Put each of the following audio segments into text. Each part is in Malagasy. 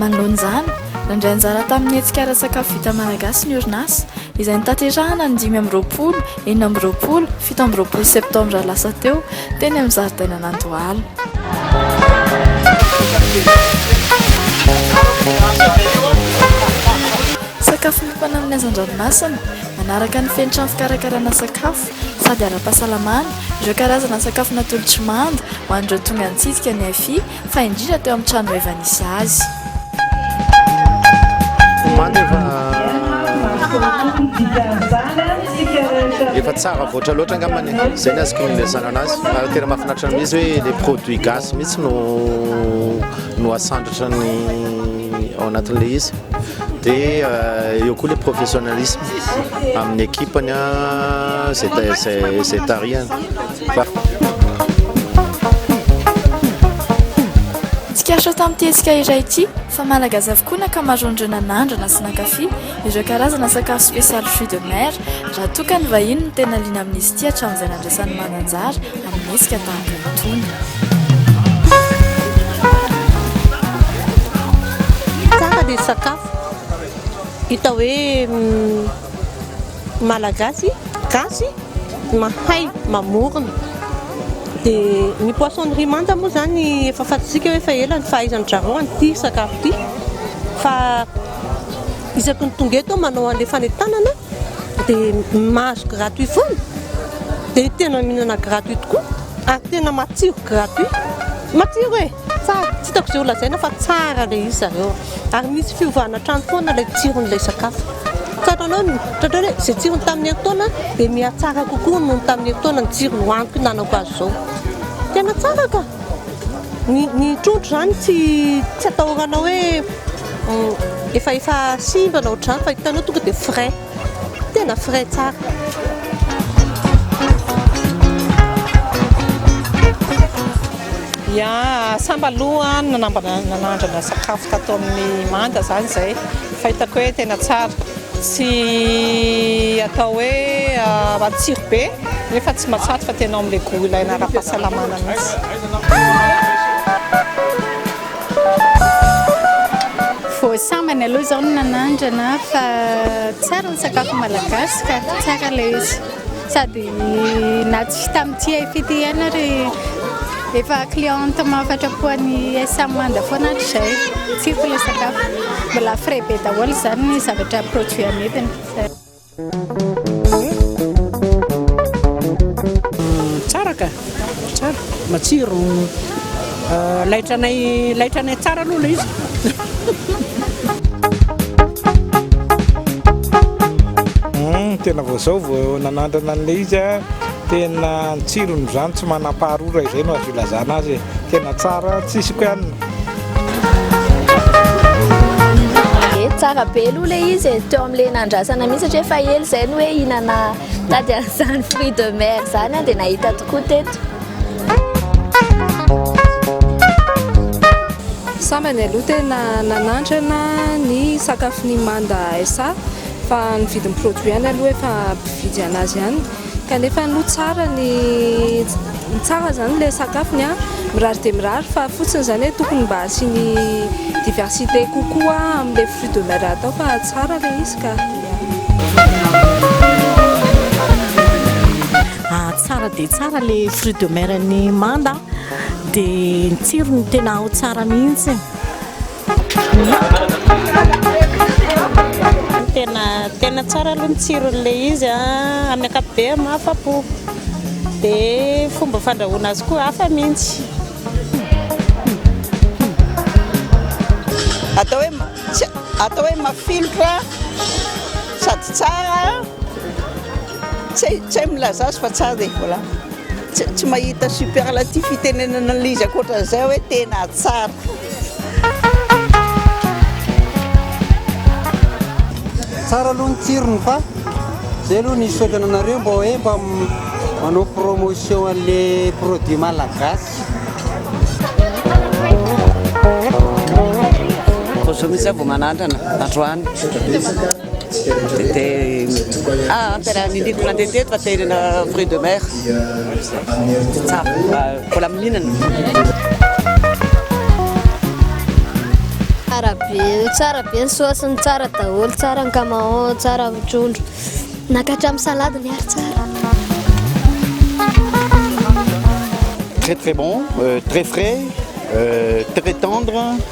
Manoloana izany, nandray anjara tamin'ny hetsika ara-tsakafo vita malagasy ny orinasa, izay notanterahana ny dimy amby roapolo, enina amby roapolo, fito amby roapolo septambra lasa teo, teny amin'ny zaridainan'Andohalo. Sakafo miompana amin'ny hazan-dranomasina, manaraka ny fenitranon'ny fikarakarana sakafo sady ara-pahasalamana, ireo karazana sakafo natolotry manda ho an'ireo tonga nitsidika ny AFI, fa indrindra teo amin'ny trano efa nisy azy. Efa tsara voatra loatra angambany zay ny azoko nilazana anazy ary tena mahafinaritra ny izy hoe le produit gasy mihitsy no no asandratra ny ao anatin'le izy dia euh, eo koa le professionnalisme amin'ny équipe-ny zay zay zay tarihany Tsikaritra tamin'ity hetsika iray ity fa Malagasy avokoa ny ankamaroan'ireo nanandrana sy nankafy ireo karazana sakafo spécial fruits de mer raha toa ka ny vahiny no tena liana amin'izy ity hatramin'izay nandraisany mananjara amin'ny hetsika tahaka itony. Tsara ny sakafo, hita hoe. Malagasy gasy mahay mamorona dia ny poisson ry manta moa izany efa fantatsika hoe efa ela ny fahaizan-dry zareo an'ity sakafo ity fa isaky ny tonga eto manao an'ilay fanentanana dia mahazo gratuit foana dia tena mihinana gratuit tokoa ary tena matsiro gratuit, matsiro e! Tsara, tsy hitako izay ho lazaina fa tsara ilay izy zareo ary misy fiovana hatrany foana ilay tsiron'ilay sakafo. Tratranao ny, tratranao hoe izay tsirony tamin'ny herintaona dia mihatsara kokoa noho ny tamin'ny herintaona ny tsiro nohaniko hinanako azy izao. Tena tsara ka! Ny, ny trondro izany tsy, tsy atahoranao hoe efa, efa simba na ohatr'izany fa hitanao tonga dia frais. Tena frais tsara. Ya, sambal aloha nanambana nanandrana sakafo tato amin'ny manda zany zay fa hitako hoe tena tsara. Tsy atao hoe matsiro be nefa tsy matsatso fa tena ao amin'ilay goût ilaina ara-pahasalamana mihitsy. Voasambany aloha izao ny nanandrana fa tsara ny sakafo malagasy ka, tsara ilay izy. Sady na tsy tamin'ity Hi-Fit ihany ary efa cliente mahafatrapo an'i SM Manda foana hatrizay. Tiako ilay sakafo. Mbola frais be daholo izany ny zavatra produit amidiny. Tsara ka! Tsara! Matsiro! Laitra anay, laitra anay tsara aloha ilay izy. Tena vao izao vao nanandrana an'ilay izy aho, tena ny tsirony izany tsy manam-paharora izay no azo ilazana azy e, tena tsara tsisy koa ny. tsara be aloha le izy e teo amle nandrasana mihitsy satria efa ela izay ny hoe hinana tady an'izany fruit de mer zany a dia nahita tokoa teto sambany aloha tena nanandrana ny sakafo ny manda sa fa ny vidin'ny produit any aloha efa mpividy anazy ihany Kanefa aloha tsara ny tsara izany ilay sakafony a, mirary dia mirary fa fotsiny izany hoe tokony mba asiany diversité kokoa amin'ilay fruit de mer atao fa tsara ilay izy ka. Ah, tsara dia tsara ilay fruit de mer-n'i Manda dia ny tsirony tena ao tsara mihitsy. Tena tena tsara aloha ny tsiron'ilay izy a, ah. amin'ny ankapobeny mahafa-po. Dia fomba fandrahoana azy koa hafa mihitsy. Atao hoe atao hoe mafilotra sady tsara, tsy hay tsy hay milaza azy fa tsara dia voilà. Tsy tsy mahita superlatif itenenana an'ilay izy ankoatran'izay hoe tena tsara. Tsara aloha ny tsirony fa zay aloha ny hisaotra anareo mba hoe mba manao promotion an'le produit malagasy. Rojo mihitsy aho vao manandrana androany. Tete ah tena niniako nandeha teto fa tena na fruit de mer tsara mbola mihinana tsara be tsara be ny saosiny tsara daholo tsara ny camaon tsara ny trondro nakatra amin'ny salade ny ary tsara très très bon euh, très frais euh, très tendre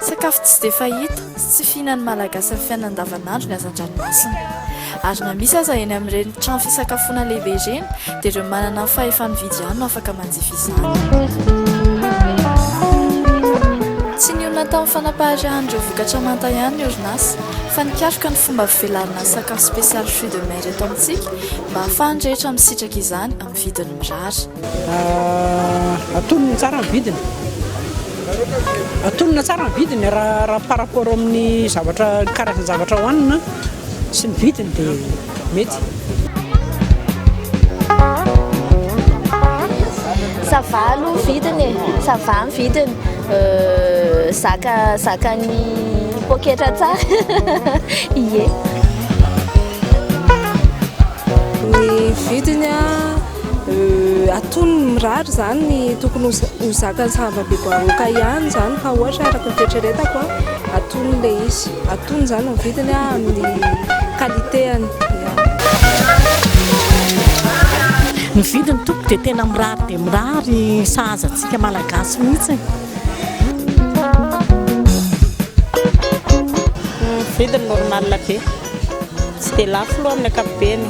Sakafo tsy dia fahita sy tsy fihinan'ny Malagasy amin'ny fiainana andavanandro ny hazan-dranomasina. Ary na misy aza eny amin'ireny trano fisakafoana lehibe ireny dia ireo manana ny fahefa-mividy ihany no afaka manjifa izany. Tsy nionona tamin'ny fanapaharehan'ireo vokatra manta ihany ny orinasa fa nikaroka ny fomba fivelarana ny sakafo spécial fruits de mer eto amintsika mba hahafahan'ny rehetra misitraka izany amin'ny vidiny mirary. Atonina tsara ny vidiny, atonina tsara ny vidiny raha par rapport amin'ny zavatra, karazan-javatra hohanina sy ny vidiny dia mety. ça va aloha ny vidiny e ça va ny vidiny zaka zakan'ny poketra tsara ie atonony mirary zany tokony ho zakany sahava be baroka ihany zany raha ohatra araka ny fieritreretako an atony le izy atony zany ny vidiny an amin'ny qualité-any ny vidiny toko dia tena mirary dia mirary sahaza antsika malagasy mihitsy vidiny normal be tsy dia lafo loha amin'ny ankapobeny.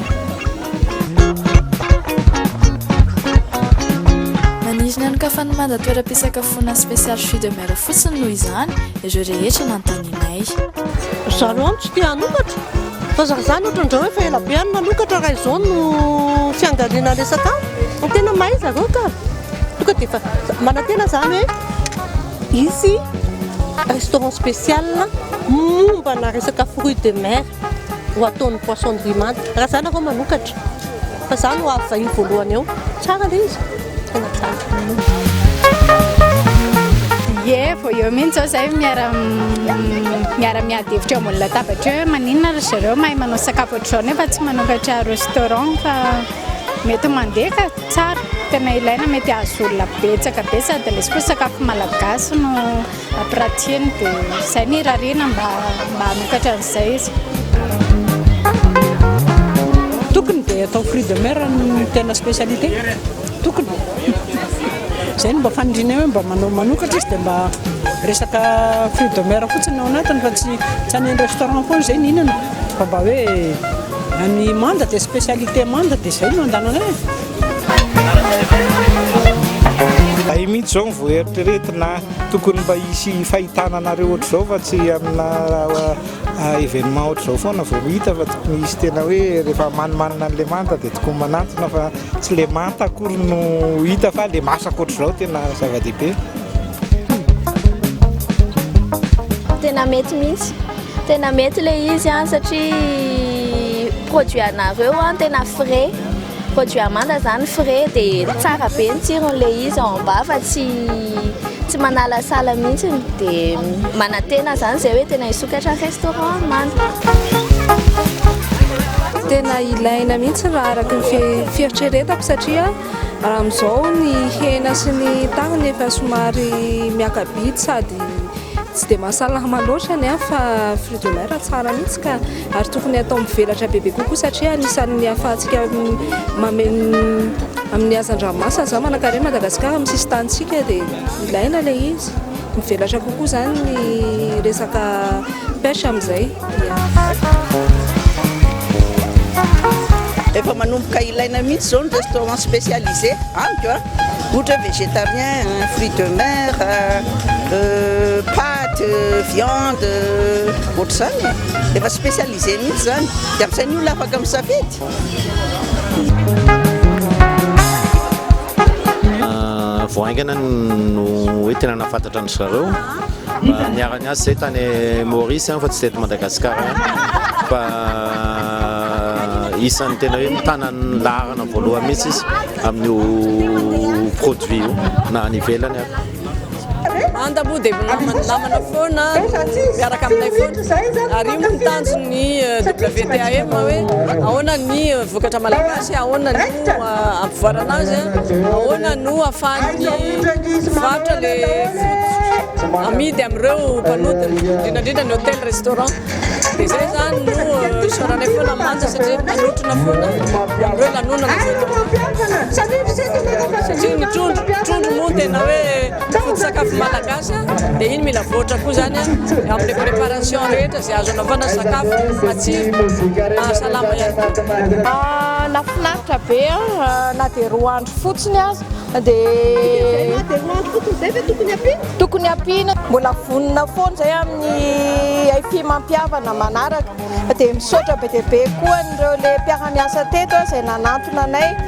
Maniry ny anokafan'ny manda toeram-pisakafoana spécial fruits de mer fotsiny noho izany ireo rehetra nanontanianay. Ry zareo ihany tsy te hanokatra. Fa za zany ohatra indray hoe efa ela be any nanokatra raha izao no fiangaliana resaka any. Tena mahay zareo ka. Tonga dia efa manantena zany hoe. Hisy restaurant spécial mombana resaka fruits de mer ho ataon'ny poisson de rimanta. Raha za nareo manokatra fa za no avy vahiny voalohany eo. Tsara le izy. Tena tsara. Ye, vao eo mihitsy zao zay miara miara miady hevitra eo ambony latabatra eo hoe maninona ry zareo mahay manao sakafo ohatr'izao nefa tsy manokatra restaurant fa Mety mandefa tsara, tena ilaina mety ahazo olona betsaka be sady lesy koa sakafo malagasy no apratihiny dia izay no irariana mba mba hanokatra an'izay izy. Tokony dia atao fruit de mer no tena specialité, tokony e! Izay no mba fanirianay hoe mba manao manokatra izy dia mba resaka fruit de mer fotsiny no ao anatiny fa tsy tsy any restaurant foana izay no hihinana fa mba hoe. Ny manda dia spécialité manda dia izay no andananay e. Zay mihitsy zao vao eritreretina tokony mba hisy fahitana anareo ohatr'izao fa tsy amina ah, événement ohatr'izao foana vao hita fa tokony hisy tena hoe rehefa manimanina an'le manta dia tokony manantona fa tsy le manta akory no hita fa le masaka ohatr'izao tena zava-dehibe. Tena mety mihitsy. Tena mety le izy an, satria produit anareo an tena frais, produit Amanda zany frais dia tsara be ny tsirony le izy ao am-bava fa tsy tsy manalasala mihitsy dia manantena zany zay hoe tena hisokatra restaurant Amanda. Tena ilaina mihitsy raha araka ny fieritreretako satria amin'izao ny hena sy ny tahony efa somary miaka-bidy sady Tsy dia mahasalama loatra ny ahy fa fruits de mer tsara mihitsy ka, ary tokony atao mivelatra bebe kokoa satria anisan'ny ahafahantsika mameno amin'ny hazan-dranomasina izany manankarena an'i Madagasikara amin'ny sisin-tanintsika dia ilaina ilay izy, mivelatra kokoa izany ny resaka pêche amin'izay. Efa manomboka ilaina mihitsy izao ny restaurant spécialisé amiko a. Ohatra hoe végétarien, fruits de mer, pâtes, viande, ohatr'izany e. Efa spécialisé mihitsy izany. Dia amin'izay ny olona afaka misafidy. Vao haingana no hoe tena nahafantatra an-dry zareo. Mba niara-niasa zay tany Maurice an fa tsy teto Madagascar an. Fa isan'ny tena hoe mitana ny laharana voalohany mihitsy izy amin'io produit io na any ivelany ary. Manda moa dia namana namana foana miaraka aminay foana ary io moa ny tanjon'ny WTAM hoe ahoana ny vokatra malagasy, ahoana ny hampivoarana azy, ahoana no ahafahan'ny mpivarotra le vokatra amidy amin'ireo mpanodina, indrindra indrindra ny hôtel restaurant. Dia izay izany no isaoranay foana ny manja satria manotrona foana amin'ireo lanonana satria ny trondro trondro moa tena hoe foto-tsakafo malagasy dia iny mila voatra koa izany amin'ny préparation rehetra Izay azo anaovana sakafo matsiro, mahasalama ihany koa. Nahafinaritra be na dia roa andro fotsiny aza dia. Na dia roa andro fotsiny izay ve tokony ampiana? Tokony ampiana, mbola vonona foana izay amin'ny haifiham-pihavana manaraka. Dia misaotra be dia be koa an'ireo le mpiara-miasa teto izay nanantona anay.